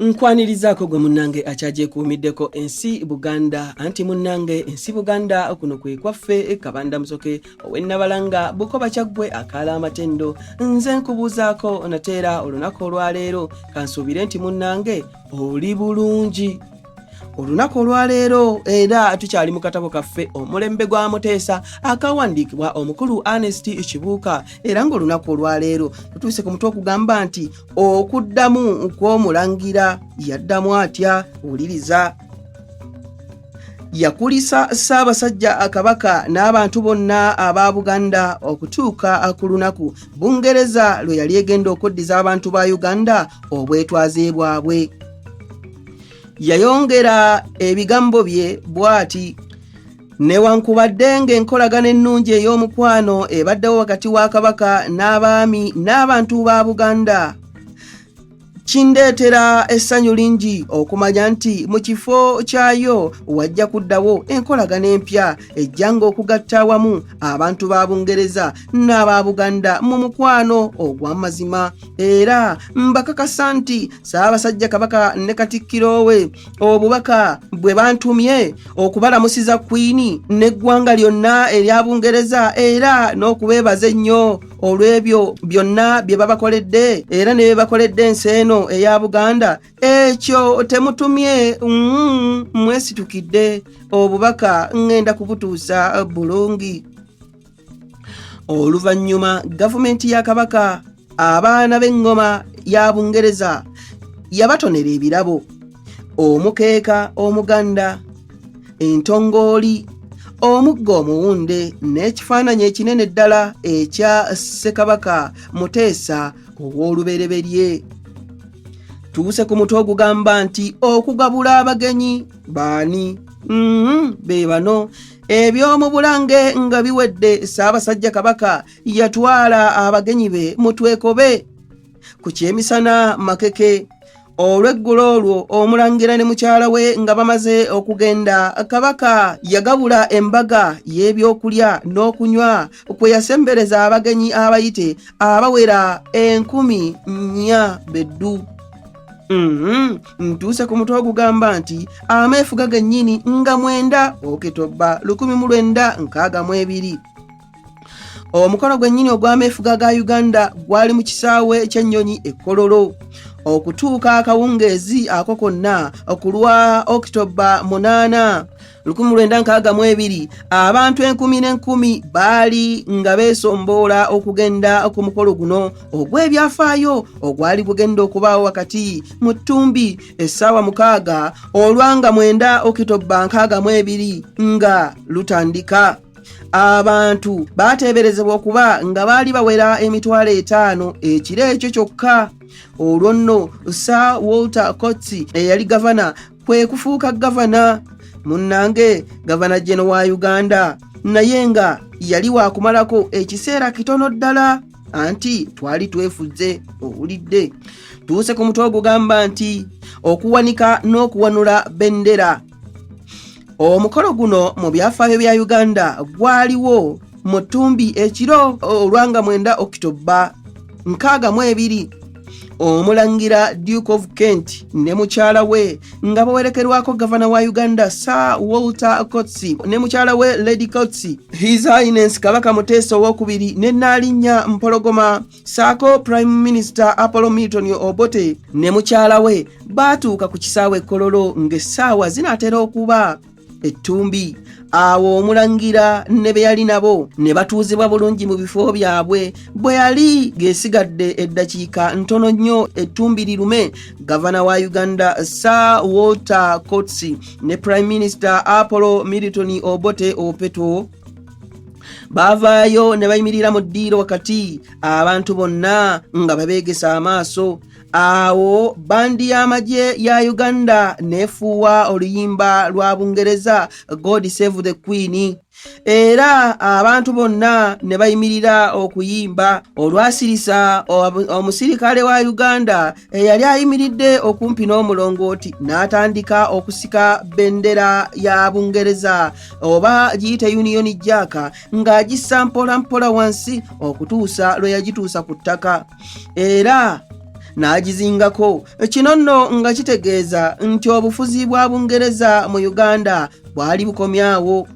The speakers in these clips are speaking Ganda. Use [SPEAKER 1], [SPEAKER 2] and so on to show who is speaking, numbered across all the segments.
[SPEAKER 1] Nkwanirizaako gwe munnange akyagyekuumiddeko ensi Buganda anti munnange ensi Buganda kuno kwe kwaffe Kabanda Musoke ow'e Nabalanga Bukoba Kyaggwe akaala amatendo nze nkubuuzaako nateera olunaku olwaleero kansuubire nti munnange oli bulungi olunaku olwaleero era tukyali mu katabo kaffe omulembe gwa muteesa akawandiikibwa omukulu anest kibuuka era ng'olunaku olwaleero tutuuse ku mutwe okugamba nti okuddamu kw'omulangira yaddamu atya wuliriza yakulisa ssaabasajja kabaka n'abantu bonna aba buganda okutuuka ku lunaku bungereza lwe yali egenda okuddiza abantu ba uganda obwetwaze bwabwe yayongera ebigambo bye bw'ati newankubadde ng'enkolagana ennungi ey'omukwano ebaddewo wakati wa kabaka n'abaami n'abantu ba buganda kindeetera essanyu lingi okumanya nti mu kifo kyayo wajja kuddawo enkolagana empya ejjanga okugatta awamu abantu ba bungereza n'aba buganda mu mukwano ogw'amazima era mbakakasa nti Ssaabasajja Kabaka ne Katikkiro we obubaka bwe bantumye okubalamusiza Kwini n'eggwanga lyonna erya Bungereza era n'okubeebaza ennyo olw'ebyo byonna bye babakoledde era ne bye bakoledde ensi eno eya Buganda ekyo temutumye mm, mwesitukidde obubaka ng'enda kubutuusa bulungi. oluvannyuma gavumenti ya kabaka abaana b'eŋŋoma ya bungereza yabatonera ebirabo omukeeka omuganda entongooli omugga omuwunde n'ekifaananyi ekinene ddala ekya ssekabaka muteesa ow'olubereberye tuuse ku mutwe ogugamba nti okugabula abagenyi baani mm-hmm, be bano ebyomubulange nga biwedde ssaabasajja kabaka yatwala abagenyi be mutwekobe ku kyemisana makeke olw'eggulo olwo omulangira ne mukyala we nga bamaze okugenda kabaka yagabula embaga y'ebyokulya n'okunywa kwe yasembereza abagenyi abayite abawera enkumi nnya beddu mm -hmm. ntuuse ku mutwe ogugamba nti ameefuga gennyini nga mwenda okitobba lukumi mu lwenda nkaaga mu ebiri omukolo gwennyini ogw'ameefuga ga uganda gwali mu kisaawe ky'ennyonyi ekkololo okutuuka akawungeezi ako konna okulwa okitoba munaana lukumi lwenda nkaaga mu ebiri abantu enkumi n'enkumi baali nga beesomboola okugenda ku mukolo guno ogw'ebyafaayo ogwali gugenda okubaawo wakati mu ttumbi essaawa mukaaga olwanga mwenda okitobba nkaaga mu ebiri nga lutandika abantu baateeberezebwa okuba nga baali bawera emitwalo etaano ekiro ekyo kyokka olwo nno sir walter cotsi eyali gavana kwe kufuuka gavana munnange gavana jeno wa uganda naye nga yali wakumalako ekiseera kitono ddala anti twali twefudze owulidde tuuse ku mutwe ogugamba nti okuwanika n'okuwanula bendera omukolo guno mu byafaayo bya uganda gwaliwo mu ttumbi ekiro olwanga mwenda okitoba nkaaga mu ebiri omulangira duke of kent ne mukyala we nga bawerekerwako gavana wa uganda sir walter cotsi ne mukyala we lady cotsi his highness kabaka muteesa owokubiri ne naalinnya mpologoma saako prime minister apollo milton obote ne mukyala we baatuuka ku kisaawe kololo ng'essaawa zinaatera okuba ettumbi awo omulangira ne be yali nabo ne batuuzibwa bulungi mu bifo byabwe bwe yali gesigadde eddakiika ntono nnyo ettumbi lirume gavana wa uganda sir walter cots ne prime minister apollo milton obote opeto baavaayo ne bayimirira mu ddiiro wakati abantu bonna nga babeegesa amaaso Awo bandi y'amagye ya Uganda nefuuwa oluyimba lwa Bungereza God Save the Queen era abantu bonna ne bayimirira okuyimba olwasirisa omusirikale wa Uganda eyali ayimiridde okumpi n'omulongooti n'atandika okusika bendera ya Bungereza oba giyite Union Jack ng'agissa mpola mpola wansi okutuusa lwe yagituusa ku ttaka. era n'agizingako kino nno nga kitegeeza nti obufuzi bwa bungereza mu uganda bwali bukomyawo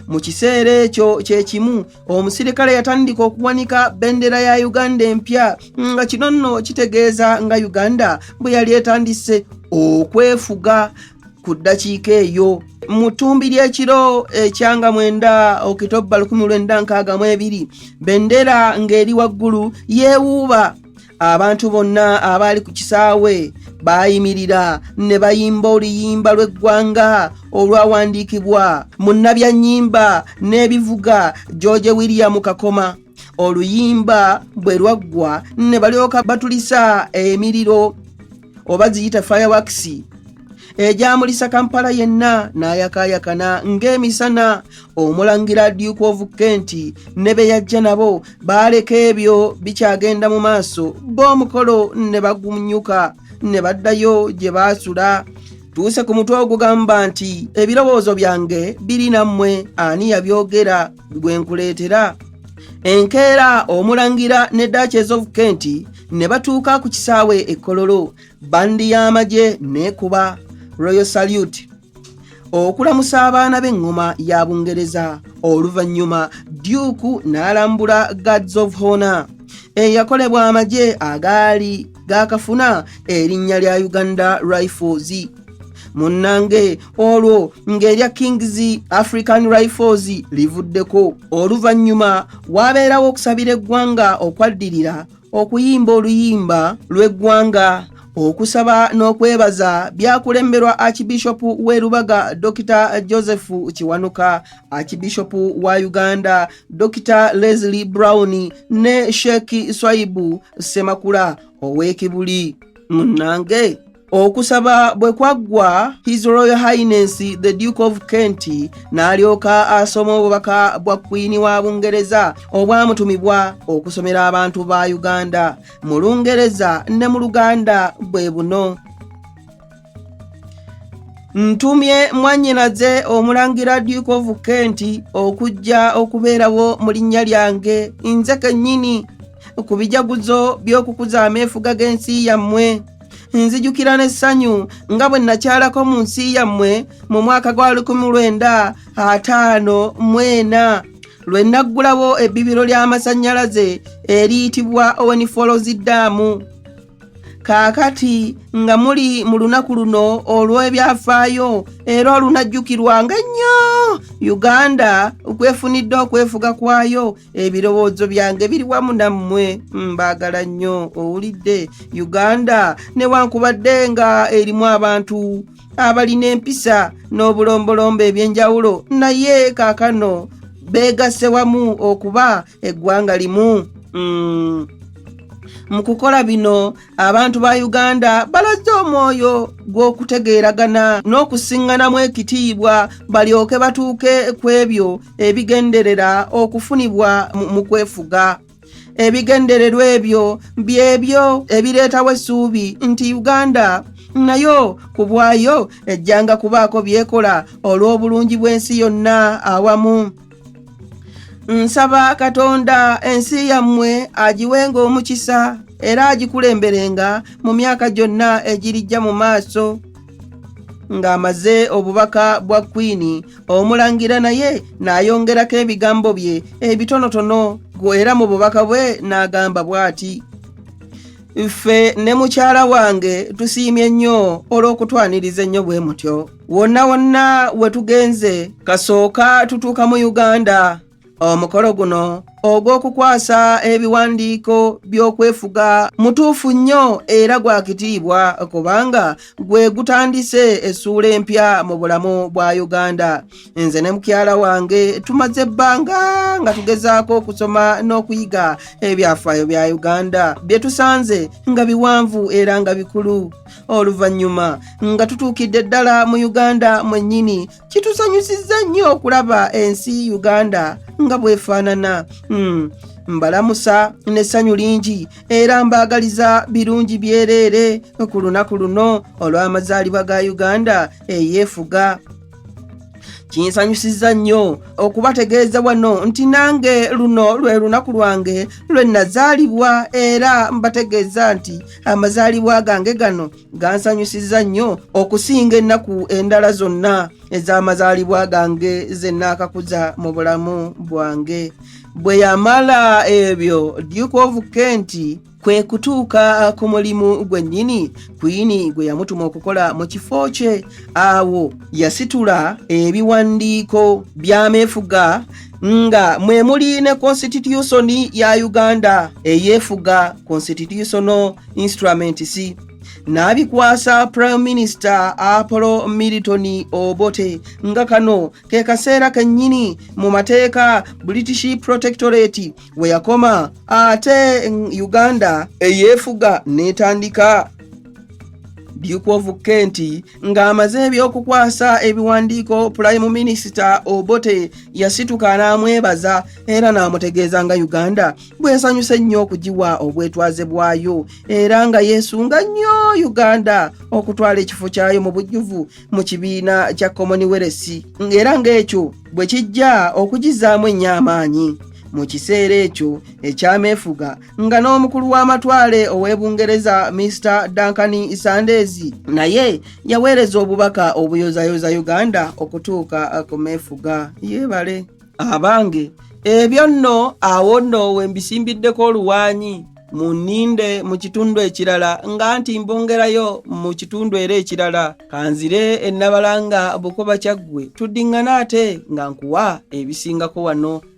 [SPEAKER 1] mu kiseera ekyo kye kimu omusirikale yatandika okuwanika bendera ya uganda empya nga kino nno kitegeeza nga uganda bwe yali etandise okwefuga ku ddakiika eyo mu ttumbi ly'ekiro ekyanga mwenda okitobba 1962 bendera ng'eri waggulu yeewuuba abantu bonna abaali ku kisaawe baayimirira ne bayimba oluyimba lw'eggwanga olwawandiikibwa mu nabyannyimba n'ebivuga george william kakoma oluyimba bwe lwaggwa ne balyoka batulisa emiriro oba ziyita firewakisi egyamulisa kampala yenna n'ayakaayakana ng'emisana omulangira duke of kent ne be yajja nabo baaleka ebyo bikyagenda mu maaso b'omukolo ne bagumnyuka ne baddayo gye baasula tuuse ku mutwe ogugamba nti ebirowoozo byange biri nammwe ani yabyogera gwe nkuleetera enkeera omulangira ne duches of kent ne batuuka ku kisaawe ekkololo bandi y'amagye neekuba royal salute okulamusa abaana b'eŋŋoma ya bungereza oluvannyuma duke n'alambula guards of honor eyakolebwa amagye agaali gaakafuna erinnya lya uganda rifles munnange olwo ng'erya kings african rifles livuddeko oluvannyuma waabeerawo okusabira eggwanga okwaddirira okuyimba oluyimba lw'eggwanga okusaba n'okwebaza byakulemberwa akibishopu w'erubaga dr joseph kiwanuka akibishopu wa uganda Dokita Leslie Brown ne Sheikh Swaibu Semakula ow'ekibuli munnange okusaba bwe kwaggwa his royal highness the duke of kent n'alyoka asoma obubaka bwa kwini wa bungereza obwamutumibwa okusomera abantu ba uganda mu lungereza ne mu luganda bwe buno ntumye mwannyinaze omulangira duke of kent okujja okubeerawo mu linnya lyange nze kennyini ku bijaguzo by'okukuza ameefuga g'ensi yammwe nzijukira n'essanyu nga bwe nakyalako mu nsi yammwe mu mwaka gwa 1954 lwe naggulawo ebbibiro ly'amasannyalaze eriyitibwa owenifolozi daamu kaakati nga muli mu lunaku luno olw'ebyafaayo era olunajjukirwanga ennyo uganda kwefunidde okwefuga kwayo ebirowoozo byange biri wamu nammwe mbaagala nnyo owulidde uganda newankubadde nga erimu abantu abalina empisa n'obulombolombo eby'enjawulo naye kaakano beegasse wamu okuba eggwanga limu mm. mu kukola bino abantu ba uganda balazze omwoyo gw'okutegeeragana n'okusiŋŋanamu ekitiibwa balyoke batuuke ku ebyo ebigenderera okufunibwa mu kwefuga ebigendererwa ebyo byebyo ebireetawo essuubi nti uganda nayo ku bwayo ejjanga kubaako byekola olw'obulungi bw'ensi yonna awamu nsaba katonda ensi yammwe agiwenga omukisa era agikulemberenga mu myaka gyonna egirijja mu maaso ng'amaze obubaka bwa kwini omulangira naye n'ayongerako ebigambo bye ebitonotono era mu bubaka bwe n'agamba bw'ati ffe ne mukyala wange tusiimye nnyo olw'okutwaniriza ennyo bwe mutyo wonna wonna we tugenze kasooka tutuuka mu uganda omukolo guno ogw'okukwasa ebiwandiiko by'okwefuga mutuufu nnyo era gwa kitiibwa kubanga gwe gutandise essuula empya mu bulamu bwa uganda nze ne mukyala wange tumaze ebbanga nga tugezaako okusoma n'okuyiga ebyafaayo bya uganda bye tusanze nga biwanvu era nga bikulu oluvannyuma nga tutuukidde ddala mu uganda mwennyini kitusanyusizza nnyo okulaba ensi uganda nga bwefaanana hmm. mbalamusa n'essanyu lingi era mbaagaliza birungi byereere ku lunaku luno olw'amazaalibwa ga uganda eyeefuga kinsanyusizza nnyo okubategeeza wano nti nange luno lwe lunaku lwange lwe nazaalibwa era mbategeeza nti amazaalibwa gange gano gansanyusizza nnyo okusinga ennaku endala zonna ez'amazaalibwa gange ze nnaakakuza mu bulamu bwange bwe yamala ebyo duke of kent kwe kutuuka ku mulimu gwennyini kuyini gwe yamutuma okukola mu kifo kye awo yasitula ebiwandiiko by'ameefuga nga mwe muli ne konsitityusoni ya uganda eyeefuga constitutional instruments n'abikwasa prime minister apollo milton obote nga kano ke kaseera kennyini mu mateeka british protectorate we yakoma ate uganda eyeefuga n'etandika duke of kenti Ng'amaze eby'okukwasa ebiwandiiko pulayimu minisita Obote yasituka n'amwebaza era n'amutegeeza nga Uganda bw'esanyuse nnyo okugiwa obwetwaze bwayo era nga yeesunga nnyo Uganda okutwala ekifo kyayo mu bujjuvu mu kibiina kya Commonwealth ng'era ng'ekyo bwe kijja okugizaamu ennyo amaanyi mu kiseera ekyo ekyameefuga nga n'omukulu w'amatwale ow'e bungereza mr duncan isandezi naye yaweereza obubaka obuyozayoza uganda okutuuka ku meefuga yeebale abange ebyo nno awo nno we mbisimbiddeko oluwaanyi mu nninde mu kitundu ekirala nga nti mbongerayo mu kitundu era ekirala kanzire ennabalanga bukoba kyaggwe tuddiŋŋana ate nga nkuwa ebisingako wano